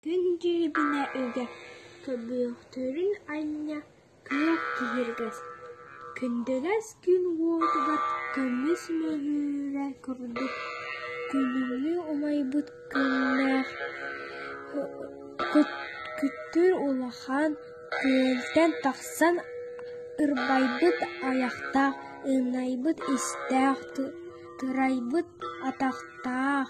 Күн дьиэбинэ ыга көбүөхтэрин анньа кыах киһиргэс, күндэлэс күн уотугар көмүс мөҕүүрэ курдук күнүҥҥү умайбыт күннээх күттүр улахан күөлтэн тахсан ырбайбыт айахтаах, ынайбыт истээх, турайбыт атахтаах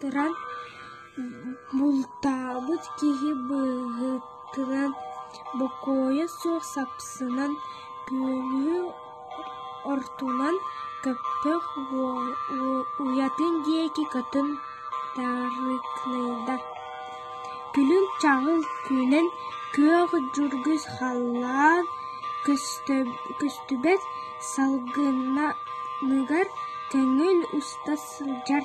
туран бултаабыт киһи быһыытынан, бокуойа суох сапсынан, күөлү ортунан көппөх уйатын диэки көтөн тарыыкныйда. Күлүм-чаҕыл күүнэн күөх дьургус халлаан көстүбэт салгынаныгар көҥүл уста сылдьар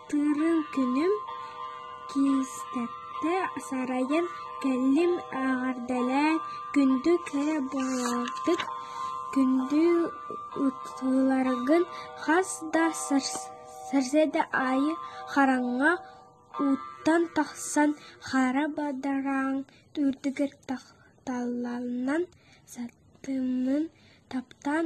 Түүрүн күнүм киистэттэ сарайын кэллим эҕэрдэлээн күндү кэрэ буолбут күндү ууларгын хас да сарсыарда аайы хараҥа ууттан тахсан хара бадараан үрдүгэр тахталланан сатыымын таптаан